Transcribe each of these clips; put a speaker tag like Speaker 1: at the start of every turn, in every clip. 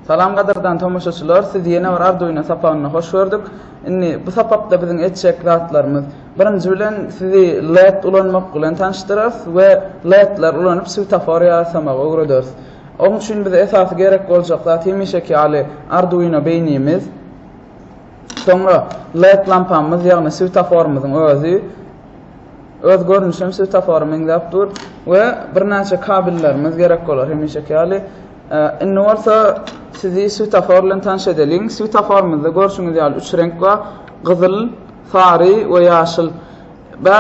Speaker 1: Salam gadyrdan tomaşaçylar, siz ýene bir arz oýna sapagyna hoş gördük. Indi bu sapakda biziň etjek zatlarymyz. Birinji bilen sizi LED ulanmak bilen tanşdyrarys we LED-ler ulanyp swetafor ýasamagy öwrederis. Oň üçin bize esasy gerek boljak zat hemişeki ýaly Arduino beýnimiz, soňra led lampamyz ýagny swetoforymyzyň özi, öz görnüşi hem swetofora meňzäp dur, we birnäçe kabellerimiz gerek bolar hemişeki ýaly. Indi bolsa sizi swetofor bilen tanyş edeliň. Swetoforymyzda görşüňiz ýaly üç reňk bar, gyzyl, sary we ýaşyl. Bä,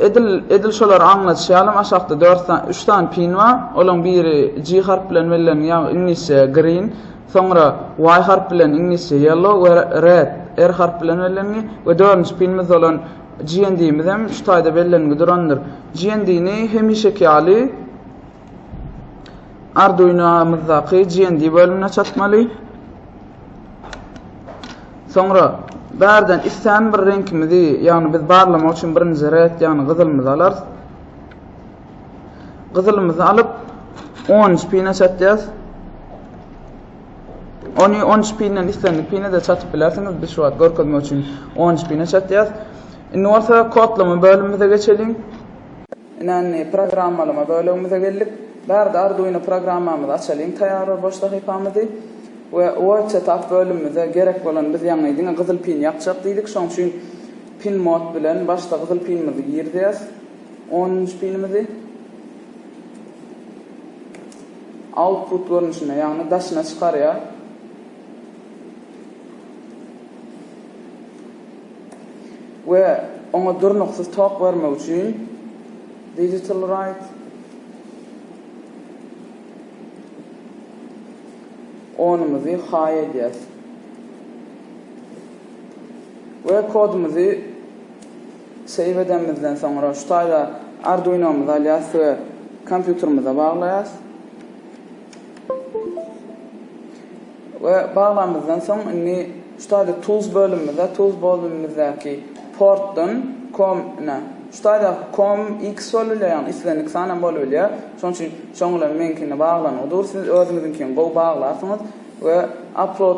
Speaker 1: edil, edil şolary aňlatýalym, aşakda dört sany, üç sany pin bar, olaň biri G harpy bilen belleniň, ýagny iňlisçe green, soňra Y harpy bilen iňlisçe yellow we red, R harpy bilen bellengi, we dördünji pinimiz bolan GND-miz hem şu taýda bellengi durandyr. GND-ni hemişeki ýaly, Arduino-myzdaky GND bölümine çatmaly. Soňra bärden istän bir reňkimizi, ýagny biz barlamak üçin birinji red, ýagny gyzylymyzy alarys. Gyzylymyzy alyp, 10 pine çatýas. Ony 10 pinden islendik pine de çatyp bilersiňiz. Biz şu wagt görkezmek üçin 10 pine çatýas. Indi bolsa kodlama bölümimize geçeliň. Ynandy programmalama bölegimize geldik. Bärde Arduino programmamyzy açalyň taýýar we boş sahypamyzy we Word setup bölümimize gerek bolan biz ýaňy diňe gyzyl pin ýakjak diýdik şoň üçin pin mod bilen başda gyzyl pinimizi girizýäs onunjy pinimizi output görnüşinde ýagny daşyna çykarýar. we oňa durnuksyz tok bermek üçin Digital Right onymyzy haý edýäs we kodumyzy save edenimizden soňra şu taýda Arduinomyzy alýas we kompýuterimize baglaýas. We baglamyzdan soň indi şu taýda tools bölümimize tools bolumimizdäki portdan com ine şu taýda com x bolbilýär ýagny islendik san hem bolbilýär şonuň üçin şoň bilen meňkini baglanygy dur siz özüňiziňkini gowy baglarsyňyz we upload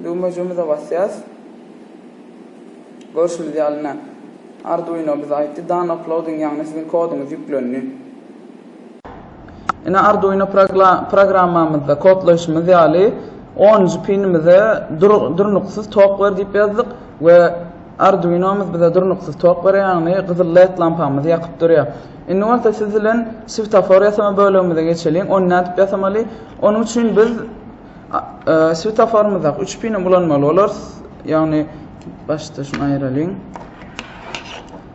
Speaker 1: düwmejimize basýas görşümiz ýaly ine arduino bize aýtdy done uploading ýagny siziň koduňyz ýüklendi. Ine Arduino programmamyzda kodlaýşymyz ýaly onunjy pinimize durnuksyz tok ber diýip ýazdyk we Arduinomyz bize durnuksyz tok berer ýagny gyzyl led lampamyzy ýakyp durýar. Indi bolsa siz bilen switafor ýasama bölegimize geçeliň. Ony nädip ýasamaly? Onuň üçin biz switaforymyzdaky üç pini ulanmaly bolarys. Ýagny başda şuny aýyralyň.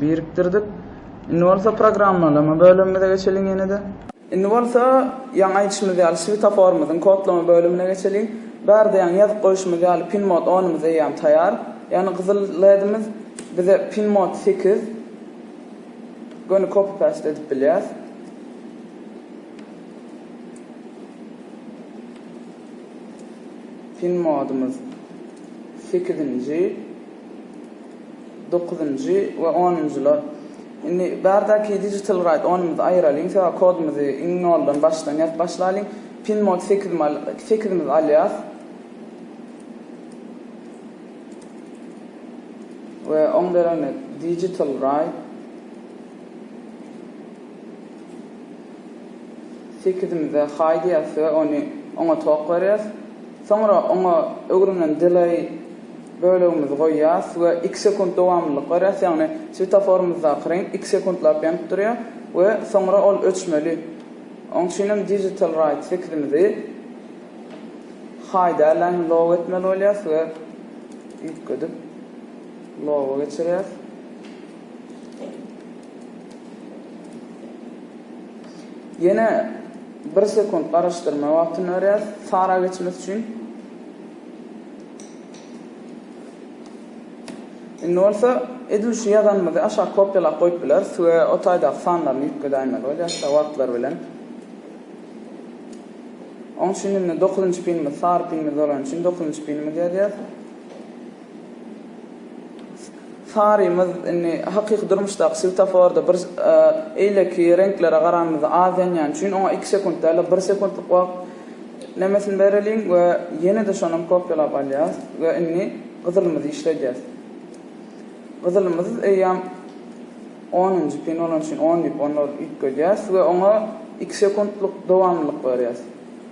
Speaker 1: Birikdirdik. Indi bolsa programmalama bölümimize geçeliň ýene-de. Indi bolsa, ýaňy aýdyşymyz ýaly switoforymyzyň kodlama bölümine geçeliň. Bärde ýaňy ýazyp goýşumyz ýaly pinmod onumyz eýýäm taýýar. Ýagny gyzyl ledimiz bize pinmod sekiz göni copy paste edip bilýäs. Pinmodumyz sekizinji. Dokuzynjy we onunjylar. Indi bardaki digital ride onumyzy aýyralyň, sebäbi kodumyzy iň noldan başdan ýazyp başlalyň. Pin mod sekiz mi al, sekizimizi alýas. We oň deregine digital ride. Sekizimize haý diýýäs we ony oňa tok berýäs. Soňra oňa öwrülen delay bölegimizi goýýas we iki sekunt dowamlylyk berýäs, ýagny swetoforymyzdaky reňk iki sekuntlap ýanyp durýar we soňra ol öçmeli. Oň üçinem Digital Right sekizimizi Hide Align Low etmeli bolýas we üýtgedip Low-a geçirýäs. Ýene. Bir sekunt garyşdyrma wagtyny berýäs sara geçmesi üçin. Indi bolsa edil şu ýazanymyzy aşak kopýalap goýup bileris we o taýdaky sanlaryny üýtgedäýmeli bolýar şa wagtlar bilen. Oň üçin indi dokuzynjy pinimiz sary pinimiz bolany üçin dokuzynjy pinimizi ýazýas. Sarymyz indi hakyky durmuşdaky swetoforda bir eýleki reňklere garanymyzda az ýanýany üçin oňa iki sekunt däl-de bir sekuntlyk wagt nemesini bereliň we ýene-de şonam kopýalap alýas we indi gyzylymyzy işledýäs. Gyzylymyz eýýäm onunjy pin bolany üçin on diýip onlary üýtgedýäs we oňa iki sekuntlyk dowamlylyk berýäs.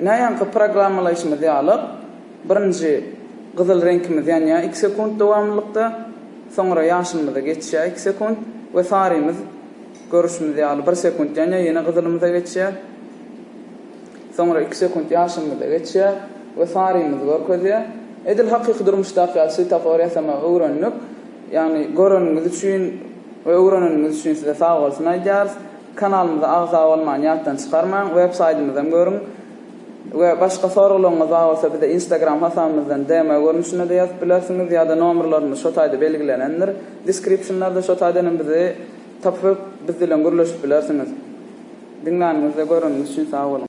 Speaker 1: Näýanky programmalaýşymyz ýaly, birinji gyzyl reňkimiz ýanýar iki sekunt dowamlylykda, soňra ýaşylymyza geçýär iki sekunt we sarymyz görüşimiz ýaly bir sekunt ýanýar ýene gyzylymyza geçýär, soňra iki sekunt ýaşylymyza geçýär we sarymyzy görkezýär. Edil hakyky durmuşdaky ýaly swetofor ýasamagy öwrendik. Ýagny göreniňiz üçin we öwreneniňiz üçin size sagbolsun aýdýarys. Kanalymyza agza bolmany ýatdan çykarmaň, web saýtymyzam görüň we başga soraglaryňyz bar bolsa bize instagram hasabymyzdan DM görnüşinde-de ýazyp bilersiňiz ýa-da nomerlerimiz şo taýda belgilenendir descriptionlarda şo taýdanam bizi tapyp biz bilen gürleşip bilersiňiz. Diňläniňiz we göreniňiz üçin sag boluň.